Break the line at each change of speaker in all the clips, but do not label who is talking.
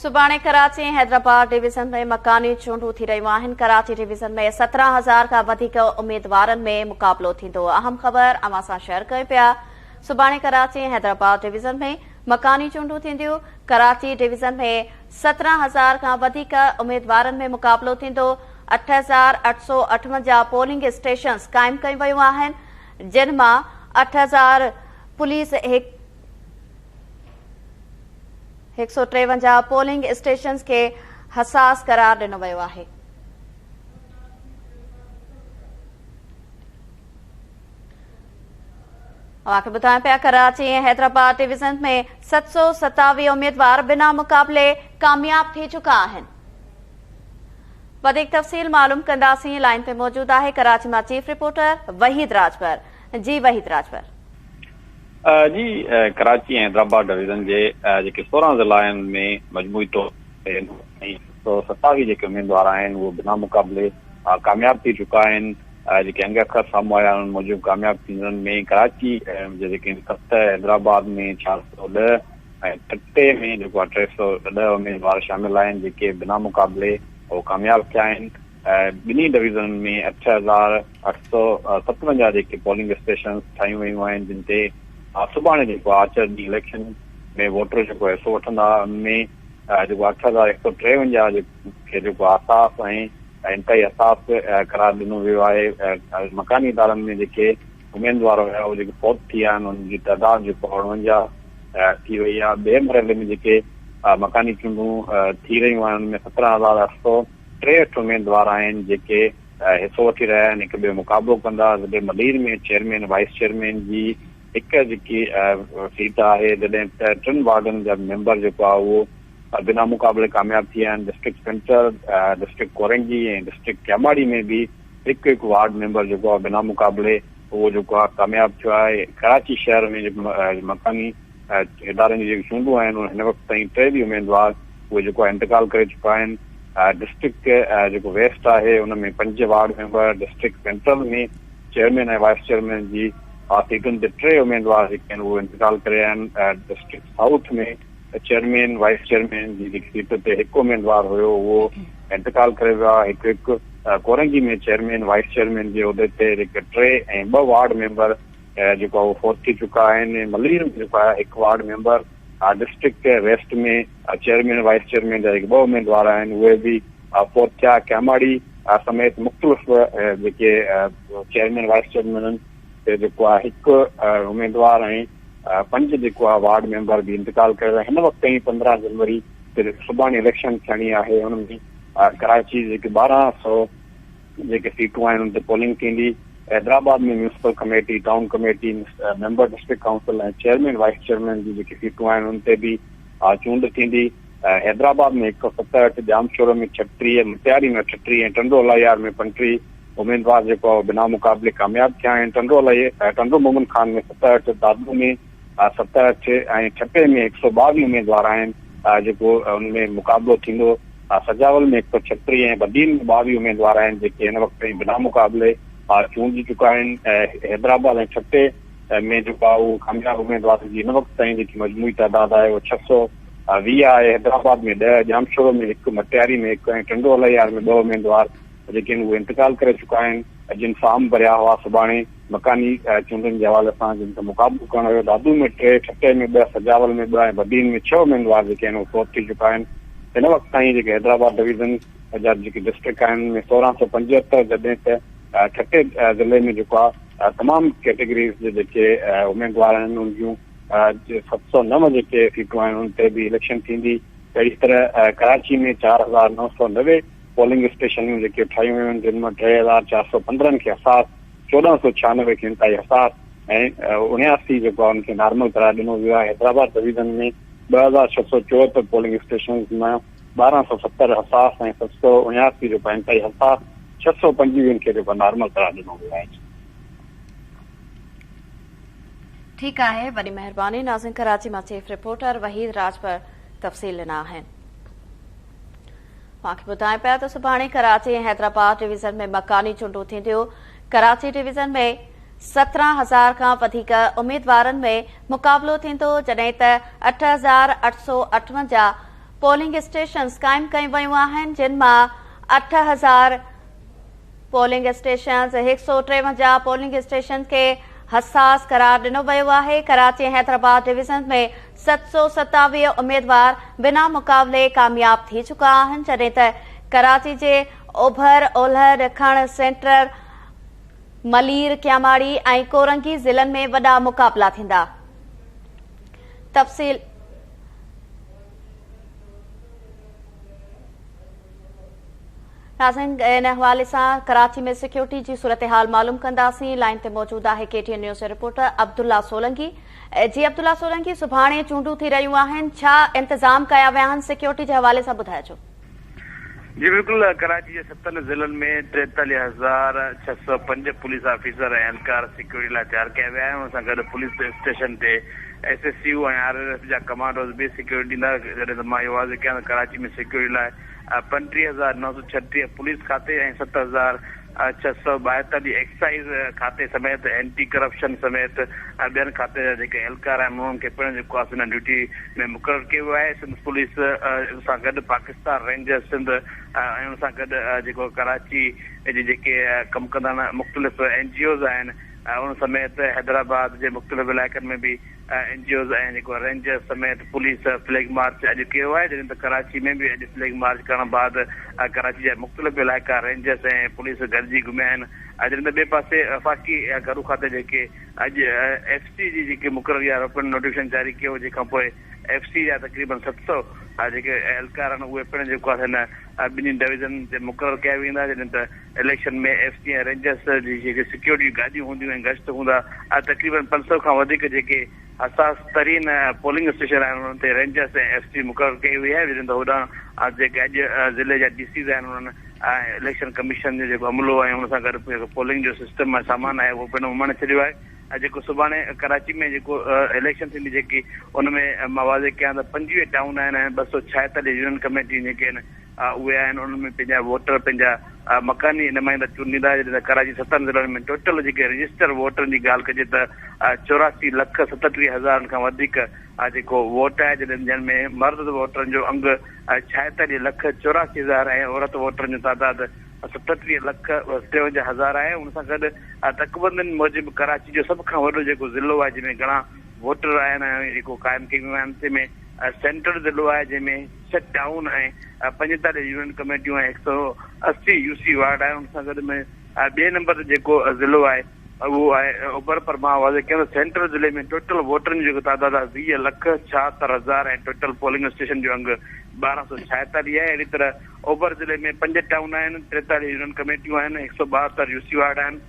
سڀاڻي ڪراچي ۽ حيدرآباد ڊويزن ۾ مڪاني چونڊون ٿي رهيون آهن، ڪراچي ڊويزن ۾ سترهن هزار کان وڌيڪ اميدوارن ۾ مقابلو ٿيندو، اهم خبر اوهان سان شيئر ڪيون پيا، سڀاڻي ڪراچي ۽ حيدرآباد ڊويزن ۾ مڪاني چونڊون ٿينديون، ڪراچي ڊويزن ۾ سترهن هزار کان وڌيڪ اميدوارن ۾ مقابلو ٿيندو، اٺ هزار اٺ سؤ اٺونجاهه پولنگ اسٽيشنز قائم ڪيون ويون آهن، جن مان اٺ هزار پوليس هڪ هڪ سؤ ٽيونجاهه پولنگ اسٽيشنز کي حساس قرار ڏنو ويو آهي. اوهان کي ٻڌايون پيا ڪراچي ۽ حيدرآباد ڊويزنز ۾ ست سؤ ستاويهه اميدوار بنا مقابلي ڪامياب ٿي چڪا آهن وڌيڪ تفصيل معلوم ڪنداسين لائين تي موجود آهي ڪراچي مان چيف رپورٽر وحيد راجپر جي وحيد راجپر.
جي ڪراچي ۽ حيدرآباد ڊويزن جي جيڪي سورهن ضلعا آهن ۾ مجموعي طور تي هڪ سؤ ستاويهه جيڪي اميدوار آهن اهي بنا مقابلي ڪامياب ٿي چڪا آهن جيڪي انگ اکر سامهون آيا انهن موجب ڪامياب ٿيندڙن ۾ ڪراچي جي جيڪي آهن ست حيدرآباد ۾ چار سؤ ڏهه ۽ ٺٽي ۾ جيڪو آهي ٽي سؤ ڏهه اميدوار شامل آهن جيڪي بنا مقابلي اهو ڪامياب ٿيا آهن ٻنهي ڊويزنن ۾ اٺ هزار اٺ سؤ ستونجاهه جيڪي پولنگ اسٽيشنز ٺاهيون ويون آهن جن تي سڀاڻي جيڪو آهي آچر ڏينهن اليڪشن ۾ ووٽر جيڪو حصو وٺندا ان ۾ جيڪو اٺ هزار هڪ سؤ ٽيونجاهه کي جيڪو حساس ۽ انتهائي حساس قرار ڏنو ويو آهي مڪاني ادارن ۾ جيڪي اميدوار هيا اهي جيڪي فوت ٿي ويا آهن انهن جي تعداد جيڪو اڻونجاهه ٿي وئي آهي ٻئي مرحلي ۾ جيڪي مڪاني چونڊون ٿي رهيون آهن ان ۾ سترهن هزار اٺ سؤ ٽي اٺ اميدوار آهن جيڪي حصو وٺي رهيا آهن هڪ ٻئي مقابلو ڪندا ضلعي ملير ۾ چيئرمين وائيس چيئرمين جي هڪ جيڪي سيٽ آهي جڏهن ته ٽن وارڊن جا ميمبر جيڪو آهي اهو بنا مقابلي ڪامياب ٿي ويا آهن district centre district Korangi ۽ district Keamari ۾ به هڪ هڪ وارڊ ميمبر جيڪو آهي بنا مقابلي اهو جيڪو آهي ڪامياب ٿيو آهي ڪراچي شهر ۾ مڪاني ۽ ادارن جون جيڪي چونڊون آهن ان هن وقت تائين ٽي به اميدوار اهي جيڪو آهي انتقال ڪري چڪا آهن ڊسٽرڪٽ جيڪو ويسٽ آهي ان ۾ پنج ward member district central ۾ chairman ۽ vice chairman جي آ سيٽن تي ٽي اميدوار جيڪي آهن اهي انتقال ڪري آيا آهن district south ۾ chairman vice chairman جي جيڪي سيٽ تي هڪ اميدوار هيو اهو انتقال ڪري ويو آهي هڪ هڪ ڪورنگي ۾ چيئرمين وائيس چيئرمين جي عهدي تي جيڪي ٽي ۽ ٻه وارڊ ميمبر جيڪو آهي اهو فوت ٿي چڪا آهن ۽ ملير ۾ جيڪو آهي هڪ ward member ۽ district west ۾ chairman vice chairman جا جيڪي ٻه اميدوار آهن اهي به فوت ٿيا ڪياماڙي سميت مختلف جيڪي چيئرمين وائيس چيئرمينن تي جيڪو آهي هڪ اميدوار ۽ پنج جيڪو آهي وارڊ ميمبر به انتقال ڪري ويا هن وقت تائين پندرهن جنوري تي سڀاڻي اليڪشن ٿيڻي آهي ان ۾ ڪراچي جي جيڪي ٻارهن سؤ جيڪي سيٽون آهن ان تي پولنگ ٿيندي. Hyderabad ۾ municipal committee, town committee, member district council ۽ chairman vice chairman جون جيڪي سيٽون آهن ان تي به چونڊ ٿيندي. حيدرآباد ۾ هڪ سؤ ستهٺ، ڄامشورو ۾ ڇهٽيهه، مٽياري ۾ اٺٽيهه ۽ ٽنڊو الاهيار ۾ پنجٽيهه اميدوار جيڪو آهي اهو بنا مقابلي ڪامياب ٿيا آهن. ٽنڊو الاهي ٽنڊو مومن خان ۾ ستهٺ، دادو ۾ ست اٺ ۽ ٺٽي ۾ هڪ سؤ ٻاويهه اميدوار آهن جيڪو ان ۾ مقابلو ٿيندو، سجاول ۾ هڪ سؤ ڇهٽيهه ۽ بدين ۾ ٻاويهه اميدوار آهن جيڪي هن وقت تائين بنا مقابلي چونڊجي چڪا آهن، حيدرآباد ۽ ٺٽي ۾ جيڪو آهي اهو ڪامياب اميدوارن جي هن وقت تائين جيڪي مجموعي تعداد آهي اهو ڇهه سؤ ويهه آهي، حيدرآباد ۾ ڏهه، ڄامشورو ۾ هڪ، مٽياري ۾ هڪ ۽ ٽنڊو الهيار ۾ ٻه اميدوار جيڪي آهن اهي انتقال ڪري چڪا آهن جن فارم ڀريا هئا سڀاڻي. مڪاني چونڊن جي حوالي سان جن سان مقابلو ڪرڻ ويو، دادو ۾ ٽي، ٺٽي ۾ ٻه، سجاول ۾ ٻه ۽ بدين ۾ ڇهه اميدوار جيڪي آهن اهي فوت ٿي چڪا آهن. هن وقت تائين جيڪي حيدرآباد ڊويزن جا جيڪي ڊسٽرڪٽ آهن ان ۾ سورهن سؤ پنجهتر جڏهن ته ٺٽي ضلعي ۾ جيڪو آهي تمام ڪيٽيگريز جا جيڪي اميدوار آهن ان جون ست سؤ نو جيڪي سيٽون آهن ان تي به اليڪشن ٿيندي اهڙي طرح ڪراچي ۾ چار هزار نو سؤ نوي پولنگ اسٽيشنيون جيڪي ٺاهيون ويون آهن جن مان ٽي هزار چار سؤ پندرهن کي حساس، چوڏهن سؤ ڇهانوي کي انتهائي حساس ۽ اڻياسي جيڪو آهي ان کي نارمل قرار ڏنو ويو آهي. حيدرآباد ڊويزن ۾ ٻه هزار ڇهه سؤ چوهتر پولنگ اسٽيشنز مان ٻارهن سؤ ستر حساس ۽ ست سؤ اڻياسي جيڪو آهي انتهائي حساس، ڇهه سؤ پنجويهن کي جيڪو نارمل قرار ڏنو ويو آهي.
ٺيڪ آهي وڏي مهرباني ناظرين ڪراچي مان چيف رپورٽر وحيد راجپر تفصيل ڏنا آهن. اوهان کي ٻڌايون پيا ته سڀاڻي ڪراچي ۽ حيدرآباد ڊويزن ۾ مڪاني چونڊون ٿينديون، ڪراچي ڊويزن ۾ سترهن هزار کان وڌيڪ اميدوارن ۾ مقابلو ٿيندو جڏهن ته اٺ هزار اٺ سؤ اٺونجاهه پولنگ اسٽيشنز قائم ڪيون ويون آهن جن مان اٺ هزار پولنگ اسٽيشنز هڪ سؤ ٽيونجاهه پولنگ اسٽيشنز کي حساس قرار ڏنو ويو آهي ڪراچي ۽ حيدرآباد ڊويزن ۾ ست سؤ ستاويهه اميدوار بنا مقابلي ڪامياب ٿي چڪا آهن، جڏهن ته ڪراچي جي اوڀر اولهه ڏکڻ، سينٽرل، ملير، ڪياماڙي ۽ ڪورنگي ضلعن ۾ وڏا مقابلا ٿيندا. تفصيل. ناظرين ان حوالي سان ڪراچي ۾ سيڪيورٽي جي صورتحال معلوم ڪنداسين لائين تي موجود آهي ڪي ٽي اين نيوز جي رپورٽر عبدالله سولنگي. اي جي عبدالله سولنگي سڀاڻي چونڊون ٿي رهيون آهن ڇا انتظام ڪيا ويا آهن سيڪيورٽي جي حوالي سان ٻڌائجو. جي
بلڪل ڪراچي جي ستن ضلعن ۾ ٽيتاليهه هزار ڇهه سؤ پنج پوليس آفيسر ۽ اهلڪار سيڪيورٽي لاء تيار ڪيا ويا آهن ان سان گڏ پوليس اسٽيشن تي S S U ۽ R L F جا ڪمانڊوز به سيڪيورٽي ڏيندا جڏهن ته مان اهو عرض ڪيان ته ڪراچي ۾ سيڪيورٽي لاء پنجٽيهه هزار نو سؤ ڇهٽيهه پوليس کاتي ۽ ست هزار ڇهه سؤ ٻاهتر جي ايڪسائيز کاتي سميت اينٽي ڪرپشن سميت ٻين کاتي جا جيڪي اهلڪار آهن انهن کي پڻ جيڪو آهي سو انهن ڊيوٽي ۾ مقرر ڪيو ويو آهي سنڌ پوليس سان گڏ پاڪستان رينجرز سنڌ ۽ ان سان گڏ جيڪو ڪراچي جي جيڪي ڪم ڪندڙ مختلف اين جي اوز آهن ان سميت حيدرآباد جي مختلف علائقن ۾ به اين جي اوز ۽ جيڪو رينجرز سميت پوليس فليگ مارچ اڄ ڪيو آهي جڏهن ته ڪراچي ۾ به اڄ فليگ مارچ ڪرڻ بعد ڪراچي جا مختلف علائقا رينجرز ۽ پوليس گڏجي گهميا آهن جڏهن ته ٻئي پاسي وفاقي گهرو کاتي جيڪي اڄ ايف سي جي جيڪي مقرر يا رڪن نوٽيفڪيشن جاري ڪيو جنهن کانپوء ايف سي جا تقريبن ست سؤ جيڪي اهلڪار آهن اهي پڻ جيڪو آهي سا هن ٻنهي ڊويزن تي مقرر ڪيا ويندا جڏهن ته اليڪشن ۾ ايف سي ۽ رينجرز جي جيڪي سيڪيورٽي گاڏيون هونديون ۽ گشت هوندا آهي تقريبن پنج سؤ کان وڌيڪ جيڪي حساس ترين پولنگ اسٽيشن آهن انهن تي رينجرز ۽ ايف سي مقرر ڪئي وئي آهي جڏهن ته هوڏانهن جيڪي اڄ ضلعي جا ڊي سيز آهن انهن اليڪشن ڪميشن جو جيڪو عملو آهي ان سان گڏ جيڪو پولنگ جو سسٽم ۽ سامان آهي اهو پڻ اماڻي ڇڏيو آهي ۽ جيڪو سڀاڻي ڪراچي ۾ جيڪو اليڪشن ٿيندي جيڪي ان ۾ مان واضح ڪيان ته پنجويهه ٽائون آهن ۽ ٻه سؤ ڇاهيتاليهه يونين ڪميٽيون جيڪي آهن اهي آهن انهن ۾ پنهنجا ووٽر پنهنجا مڪاني نمائندا چونڊيندا جڏهن ته ڪراچي ستن ضلعن ۾ ٽوٽل جيڪي رجسٽر ووٽرن جي ڳالهه ڪجي ته چوراسي لک ستٽيهه هزارن کان وڌيڪ جيڪو ووٽ آهي جڏهن جن ۾ مرد ووٽرن جو انگ ڇاهيتاليهه لک چوراسي هزار ۽ عورت ووٽرن جو تعداد ستٽيهه لک ٽيونجاهه هزار آهي ان سان گڏ تڪبندين موجب ڪراچي جو سڀ کان وڏو جيڪو ضلعو آهي جنهن ۾ گهڻا ووٽر آهن ۽ جيڪو قائم ڪئي ويون آهن تنهن ۾ سينٽر ضلعو آهي جنهن ۾ ڇهه ٽائون ۽ پنجيتاليهه يونين ڪميٽيون ۽ هڪ سئو اسي يو سي وارڊ آهي ان سان گڏ ۾ ٻئي نمبر تي جيڪو ضلعو آهي اهو آهي اوڀر پر مان واضح ڪيان ته سينٽر ضلعي ۾ ٽوٽل ووٽرن جو جيڪو تعداد آهي ويهه لک ڇاهتر هزار ۽ ٽوٽل پولنگ اسٽيشن جو انگ ٻارهن سئو ڇاهيتاليهه آهي اهڙي طرح اوڀر ضلعي ۾ پنج ٽائون آهن ٽيتاليهه يونين ڪميٽيون آهن هڪ سئو ٻاهتر يو سي وارڊ آهن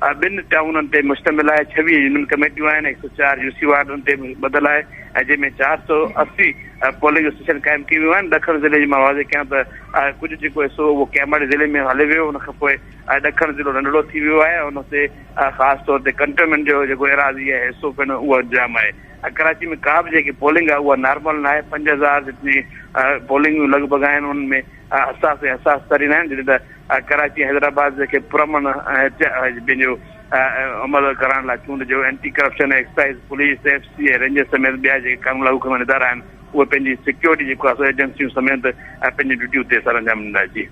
ٻن ٽائونن تي مشتمل آهي، ڇويهه يونين ڪميٽيون آهن، هڪ سؤ چار يو سي وارڊ ان تي ٻڌل آهي ۽ جنهن ۾ چار سؤ اسي پولنگ اسٽيشن قائم ڪيون ويون آهن، ڏکڻ ضلعي جي مان واضح ڪيان ته ڪجهه جيڪو حصو هو اهو ڪياماڙي ضلعي ۾ هليو ويو ان کانپوء ڏکڻ ضلعو ننڍڙو ٿي ويو آهي ان تي خاص طور تي ڪنٽونمينٽ جو جيڪو ايراضي آهي حصو پڻ اهو جام آهي ۽ ڪراچي ۾ ڪا به جيڪي پولنگ آهي اها نارمل ناهي پنج هزار جتني پولنگون لڳ ڀڳ آهن ان ۾ حساس ۽ حساس ترين آهن جڏهن ته ڪراچي ۽ حيدرآباد کي پرامن ۽ پنهنجو عمل ڪرائڻ لاء چونڊ جو anti corruption, excise, police, F C ۽ rangers سميت ٻيا جيڪي قانون لاڳو ڪرڻ وارا ادارا آهن اهي پنهنجي سيڪيورٽي جي خواص ايجنسيون سميت پنهنجي ڊيوٽي اتي سر انجام ڏيندا جي.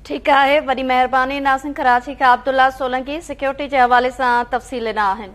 ٺيڪ آهي وڏي مهرباني ناظرين ڪراچي کان عبدالله سولنگي سيڪيورٽي جي حوالي سان تفصيل ڏنا آهن.